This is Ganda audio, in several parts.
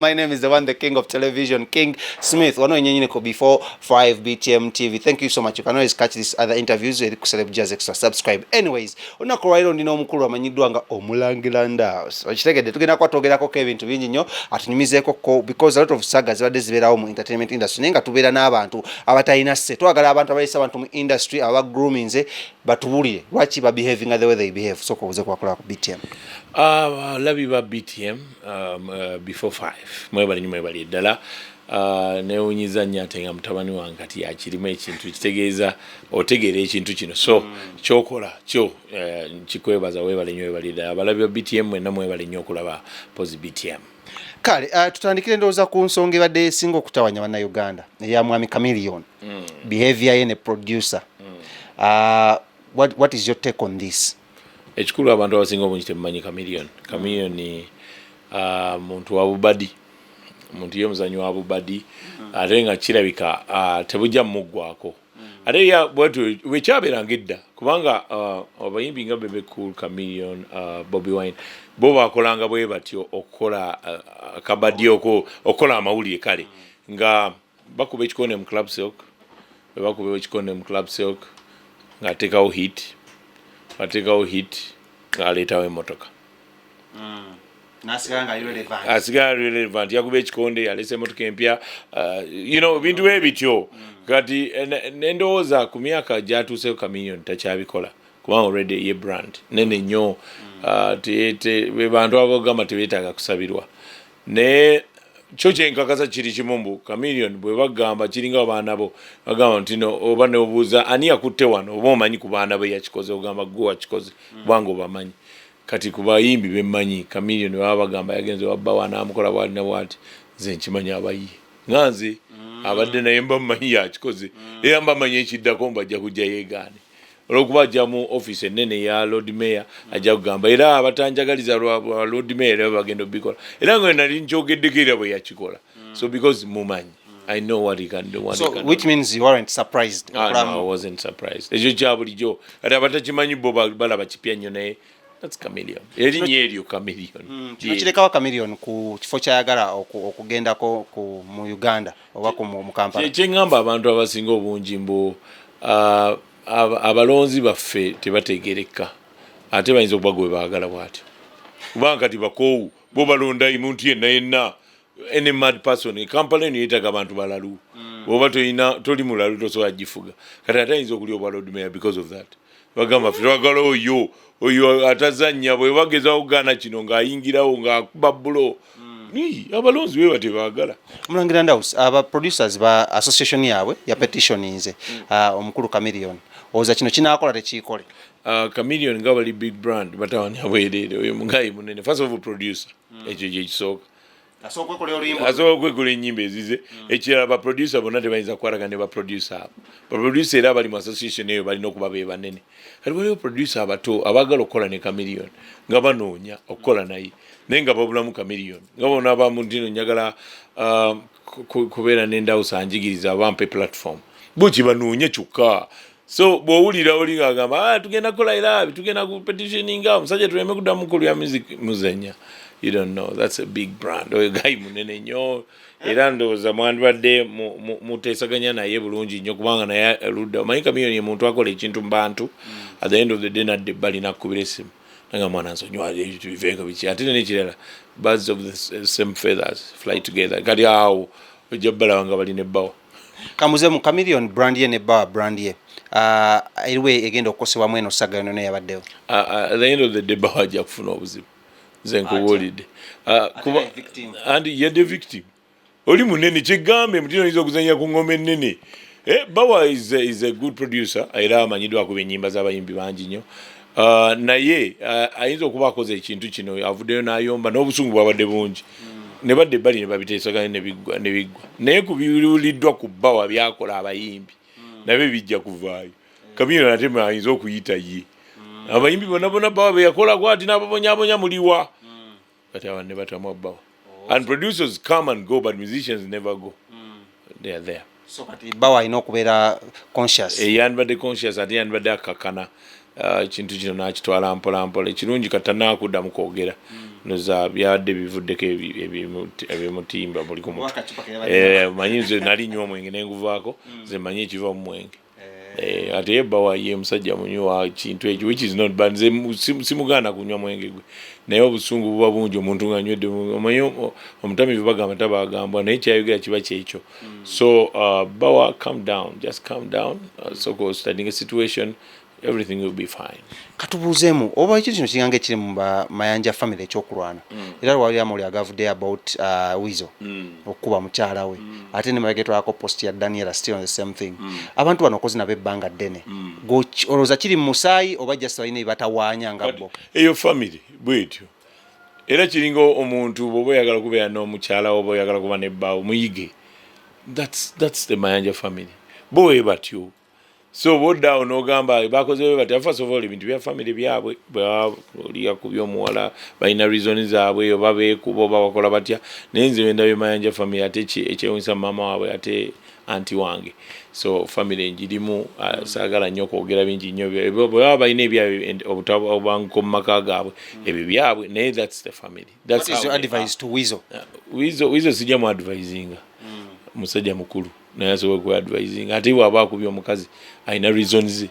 My name is the one, the king of television, King Smith. Wano yenyenyine ko before 5 BTM TV. Thank you so much. You can always catch these other interviews with Celeb Jazz Extra. Subscribe. Anyways, unaku wairo ndina omukulu amanyidwa nga omulangila ndaos. Wachitegede, tugina kwa togera ko Kevin tubinji nyo, atunyumize ko ko, because a lot of saga ziwa dezibera umu entertainment industry. Nenga tubera na abantu, abata inase. Tuwa gara abantu, abata inase, abantu mu industry, awa grooming ze, batuburi. Wachi ba behaving the way they behave. So kwa uze kwa kula BTM. Uh, ah, love you ba BTM. Um, uh, before five mwebale nyo mwebale eddala uh, newunyiza nnyo ate nga mutabani wange kati yakirimu ekintu kitegeeza otegeera ekintu kino so mm. kyokola kyo uh, nkikwebaza webale nyo webale eddala abalabi ba btm mwena mwebale nyo okulaba pozi btm kale uh, tutandikira endowooza ku nsonga ebadde esinga okutawanya bannayuganda eya mwami camilion mm. behavior ye ne producer mm. uh, what, what is your take on this Ekikulu abantu abasinga obungi temumanyi Chameleon. Chameleon uh, muntu wa bubadi muntu ye muzanyi wa bubadi mm. ate nga kirabika uh, tebujja mumuggwako mm. ate bwekyabeeranga edda kubanga uh, abayimbi nga bebe cool chameleon uh, bobby wine bo bakolanga bwe batyo okukola uh, kabadi okukola amawulire kale mm. nga bakuba ekikonde mu club silk webakuba ekikonde mu club silk ng'ateekawo hit ateekawo hit ng'aleetawo emmotoka mm. asigala relevant yakuba ekikonde yalesa emotoka empya uh, you know bintu bwe bityo mm. kati eh, nendowooza ku myaka gyatuuseko kaminion takyabikola kubanga olwedde ye brand nene nnyo mm. uh, bebantu abagamba tebetaaga kusabirwa naye kyo kyenkakasa kiri kimu mbu chameleon bwe bagamba kiringa abaana bo bagamba nti no oba neobuuza ani yakutte wano oba omanyi ku baana be yakikoze ogamba gwe wakikoze mm. kubanga obamanyi kati ku bayimbi bemmanyi chameleon baba bagamba yagenze wabba wanaamukola bwalina bwati nze nkimanyi abayi nga nze mm. abadde naye mba mumanyi yakikoze mm. era mba manyi ekiddako mbajja kujja yeegaane olwokuba ajja mu office ennene ya lord mayor hmm. ajja kugamba era abatanjagaliza lwa lord mayor era bagenda obikola era nga nali nkyogeddeko era bwe yakikola hmm. so because mumanyi hmm. i know what he can do so, which means you weren't surprised ah, no, i wasn't surprised ekyo kya bulijjo ati abatakimanyi bo balaba kipya nnyo naye That's chameleon. Erinnya eryo chameleon. Mm, kino kirekawo chameleon ku kifo kyayagala okugendako ku mu Uganda oba ku mu Kampala. Kye ngamba abantu abasinga obungi mbu uh, abalonzi baffe tebategereka ate bayinza okuba gwe baagala bwatyo kubanga kati bakoowu bo balonda omuntu yenna yenna any mad person ekampala eno yetaga abantu balalu mm. oba tolina toli mulalu tosobola gifuga kati ate ayinza okulya obwa lord mayor because of that bagamba fe twagala oyo oyo atazannya bwe bageza okugaana kino ng'ayingirawo ng'akuba bulo hmm. abalonzi be batebaagala mulangira ndaus aba producers ba association yaabwe ya hmm. petitioninze hmm. ah, omukulu camilion oza kino kinaakola tekiikole ah, camilion nga bali big brand batawanya bwereere oyo mugayi munene first of producer ekyo gyekisooka asooka okwekola enyimba ezize mm. ekirala baproducer bonna tebayinza kukwaraga ne baproducer abo baproducer era abali mu association eyo balina okuba be banene kati waliwo producer abato abaagala okukola ne camilion nga banoonya okukola naye naye nga babulamu camilion nga bona abamu ntino njagala um, kubeera nendawusa njigiriza bampe platform buki banoonya kyokka so bwowulira oli ngagamba ah, tugenda kukola irabi tugenda ku petitioninga omusajja tuleme kudamu kulya music muzenya you don't know that's a big brand oyo gayi munene nyo era ndowooza mwandibadde muteesaganya naye bulungi nyo kubanga naye ludda omanyi kamiyoni emuntu akola ekintu mubantu mm. at the end of the day nadde ebbali nakukubira esimu nanga mwana nsonyiwali ebintu biveeko biki ate nenekirala birds of the same feathers fly together kati awo ojja balaba nga bali nebbawo kamuze mu chameleon brand ye ne ba brand ye uh, eriwe egenda okukosebwa mweno saga yono yabaddewo uh, uh, the end of the day ba haja kufuna obuzibu nze nkubuulidde uh, kuba and ye the victim oli munene kigambe mutino oyinza okuzanya ku ngoma ennene eh, bawa is a, is a good producer era amanyiddwako benyimba z'abayimbi bangi nnyo Uh, naye uh, ayinza okuba akoze ekintu kino avuddeyo n'ayomba n'obusungu bwabadde bungi ne badde ebbali ne babiteesaganya ne biggwa naye ku biwuliddwa ku bbawa byakola abayimbi nabyo bijja kuvaayo kabina nate ayinza okuyita ye abayimbi bona bona bbawa beyakolako ati n'ababonyabonya muliwa But our never Tamwabao. Oh, and producers come and go, but musicians never go. Mm. They are there. So, but Bawa, I know, Kubera conscious. A eh, yan, but the conscious, at the end, but the Kakana. Uh, ekintu kino nakitwala mpolampola ekirungi kata nakudda mu kwogera mm. noza byadde bivuddeko ebimutimba buli ku mutwe eh, manyi nze nali nywa omwenge nenguvaako mm. nze manyi ekiva mu mwenge Eh, ate ye bba waye musajja munywi wa kintu ekyo which is not but nze simugaana kunywa mwenge gwe naye obusungu buba bungi omuntu nga nywedde omanyi omutamivu bagamba taba agambwa naye kyayogera kiba kyekyo hmm. so uh, bawa calm down just calm down uh, soko studying a situation everything will be fine katubuuzemu oba ekyo kino kiganga ekiri mu mayanja family ekyokulwana mm. era lwali amawuli agavudde about uh, wizo mm. okukuba mukyala we mm. ate ne mabegetwako post ya daniela still on the same thing mm. abantu bano okozi nabo ebbanga ddene mm. olowooza kiri mu musaayi oba just balina ebatawaanya nga bo eyo family bwetyo era kiringa omuntu bwoba oyagala kubeera n'omukyala oba oyagala kuba nebbaawo muyige that's, that's the mayanja family bo webatyo so bwodaawo nogamba bakozewe bati first of all ebintu bya family byabwe bwoliya ku byomuwala balina reason zaabwe oba beekuba oba bakola batya naye nze wenda bemayanja family ate ekyewunyisa maama waabwe ate anti wange so family njirimu uh, saagala nnyo okwogera bingi nnyo bwebaba balina ebyabwe obutabanguko mu maka gaabwe mm. ebyo byabwe naye thats the family wizo sijja mu advisinga mm. musajja mukulu mm. naye asobola kuba advising ate bwaba akubye omukazi alina reason ze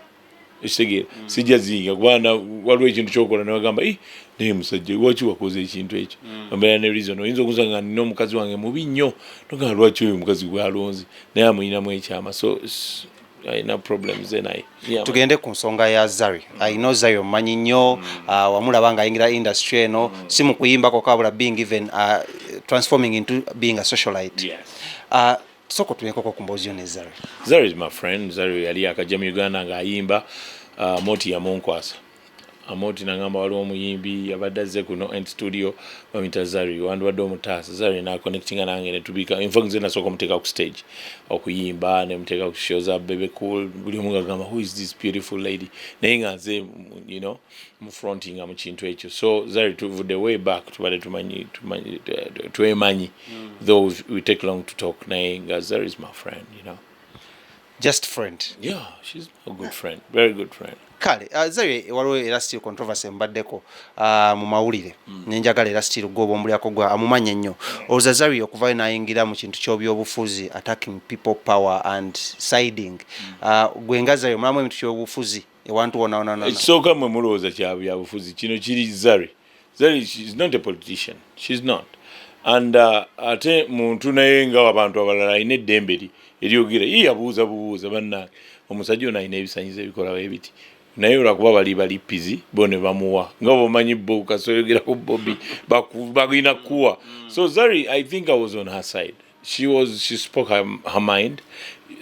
ekitegeera mm. sijja ziyinga kubana waliwo ekintu kyokola newagamba eh, naye musajja lwaki wakoze ekintu ekyo mm. obeera ne reason oyinza okusa nga nina omukazi wange mubi nnyo nogamba lwaki oyo omukazi gwalonze naye amulinamu ekyama so alina problems ze naye tugende ku nsonga ya zari i know zari omumanyi nnyo mm. ah, wamulaba nga ayingira industry eno mm. si mu kuyimbako kabula being even ah, transforming into being a socialite ah, soko tunenkoko ku mboozi yo ne zari zari is my friend zari yali akajja mu uganda ng'ayimba moti yamunkwasa Amooti nangamba waliwo omuyimbi yabadde azze kuno in studio bamuyita Zari wandibadde omutaasa Zari na connectinga nange ne tubika in fact nze nasooka omuteeka ku stage okuyimba ne muteeka ku show za Bebe Cool buli omu ngagamba who is this beautiful lady naye nga nze you know mu fronting mu kintu ekyo so Zari tuvudde way back tubadde tumanyi tumanyi twemanyi mm. though we take long to talk naye nga Zari is my friend you know just friend yeah she's a good friend very good friend kale uh, zawe waliwo era still controversy mbaddeko uh, mu mawulire mm. nenjagala era still gwoba omulyako gwa amumanya nnyo olza zawe okuvayo nayingira mu kintu kyobyobufuzi attacking people power and siding mm. uh, gwe nga zawe omulamu emintu kyobufuzi ewantu wonawonanakisooka mwe mulowooza kyabyabufuzi kino kiri zari and uh, ate muntu naye nga abantu abalala alina eddembe li eryogera ye yabuuza bubuuza bannange omusajja ono alina ebisanyizo ebikola webiti naye olwakuba bali balipizi bo ne bamuwa nga bomanyi bo kasoyogerako bobi balina kuwa so zari i think i was on her side she was she spoke her, her mind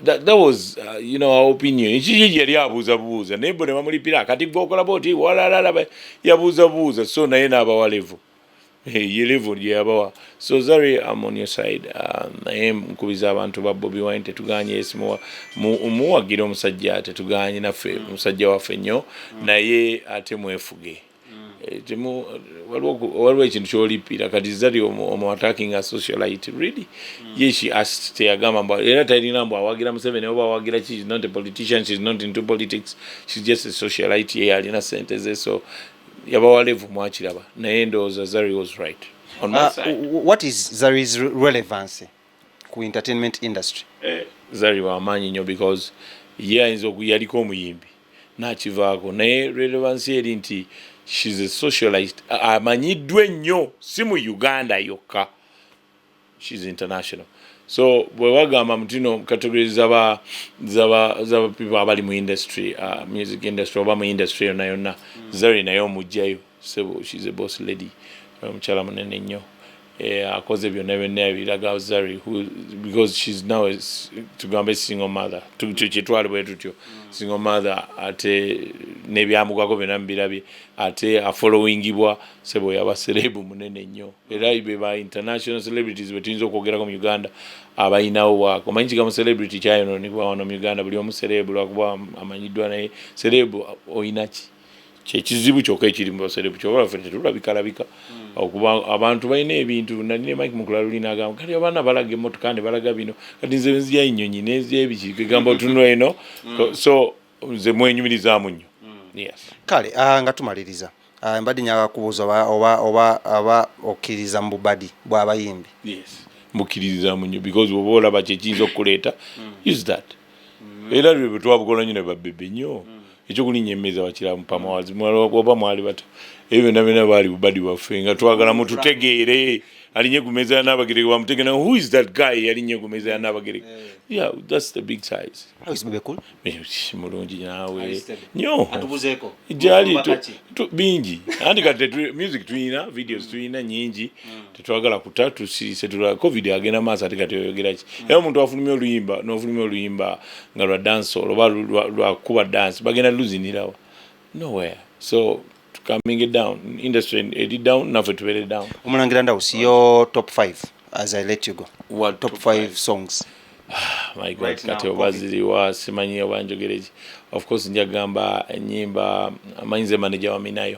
that, that was uh, you know our opinion kiki yali abuuza buuza naye bo ne bamulipira kati gwe okola boti walalala yabuuza buuza so naye n'abawa levo ye levo gye yabawa so zari am on your side uh, naye nkubiza abantu ba bobi wine tetuganye yes muwagira omusajja tetuganye naffe omusajja waffe nnyo naye ate mwefuge Eh, temu waliwo ekintu kyolipiira kati zari omu attacking a socialite really mm. ye she asked teyagamba mbu era talina mbu awagira museveni oba awagira ki is not a politician she is not into politics she is just a socialite ye alina sente ze so yabawa levu mwakiraba naye ndowooza zari was right on my ah, side what is zari's relevancy ku entertainment industry eh, zari wamanyi nyo because ye ayinza okuyaliko omuyimbi nakivaako naye relevansi eri nti shes a socialite amanyiddwa ennyo si mu uganda yokka shes international so bwewagamba mutino category zaba zaba zaba people abali mu industry uh, music industry oba mu industry yonna yonna mm. zari naye omugjayo Ssebo she's a boss lady omukyala munene nnyo eh, akoze byonna byonna ebiraga Zari because she's now tugambe single mother kyetwali bwe tutyo mm. single mother ate nebyamugwako byonna mubirabye ate afollowingibwa sebo yaba serebu munene nnyo era beba international celebrities bwetuyinza okwogerako mu uganda abalinawo waako omanyi kigamu celebrity kyayononebwa wano mu uganda buli omu serebu lwakuba amanyiddwa naye serebu oyinaki kyekizibu kyoka ekiri mubaserebu kyoba fe tetulabikalabika hmm. okuba abantu balina ebintu nali ne mike mukulalulina agamba kati abaana balaga emotoka ne balaga bino kati nze nzija enyonyi nenzija ebiki kegamba otunula eno hmm. so nze mwenyumirizamu nnyo hmm. kale ah, nga tumaliriza ah, mbadde nyaga kubuuza oba okkiririza mu bubadi bwabayimbi mbukkiririzamu nnyo because oba olaba kyekiyinza okukuleeta use that era lwe bwe twabukola nnyo ne babebe nnyo ekyokulinnya emmeeza bakiramu pamawazi oba mwali bata ebyo byonna byonna baali bubadi bwaffe nga twagala mututegeere alinye ku meeza ya Nnaabagereka bamutegera who is that guy yalinye ku meeza ya Nnaabagereka yeah that's the big size mulungi naawe nyo gyali bingi anti kati music tuyina videos tuyina nyingi mm. tetwagala kuta tusirise tula covid agenda maaso ate kati oyogera ki mm. era omuntu afulumya oluyimba nofulumya oluyimba nga lwa danso oba lwakuba dansi bagenda luzinirawa nowhere so coming down industry eri down naffe tubeere down omulangira ndawusi yo top 5 as i let you go What, top 5 songs ah, my god right kati oba ziriwa simanyi oba njogereki of course njagamba enyimba amanyize manager waminayo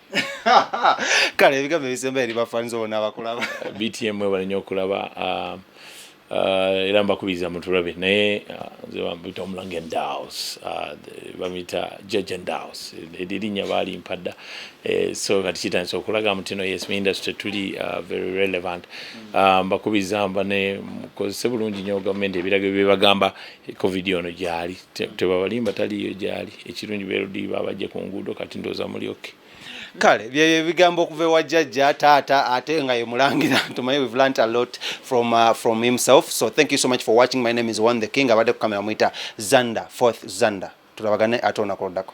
kale ebigambo ebisemba eri bafaniza bona abakulaba btm webale nyo okulaba um, uh, era mbakubiriza mutulabe naye uh, nze bamuyita omulange ndaus uh, bamuyita judge ndaus erinya baali mpadda eh, so kati kitandisa okulaga mutino yes mu industry tuli very relevant mm. um, mbakubiriza mbane mukozese bulungi nyo gavumenti ebiraga byebagamba covid ono gyali tebabalimba taliyo gyali ekirungi belodi babajje ku nguudo kati ndooza muli oke kale byebyo ebigambo okuva ewa jjajja taata ate nga ye mulangira ntumaye we've learnt a lot from, uh, from himself so thank you so much for watching my name is one the king abadde ku kamera mwita zander fourth zander tulabagane ate onakoloddako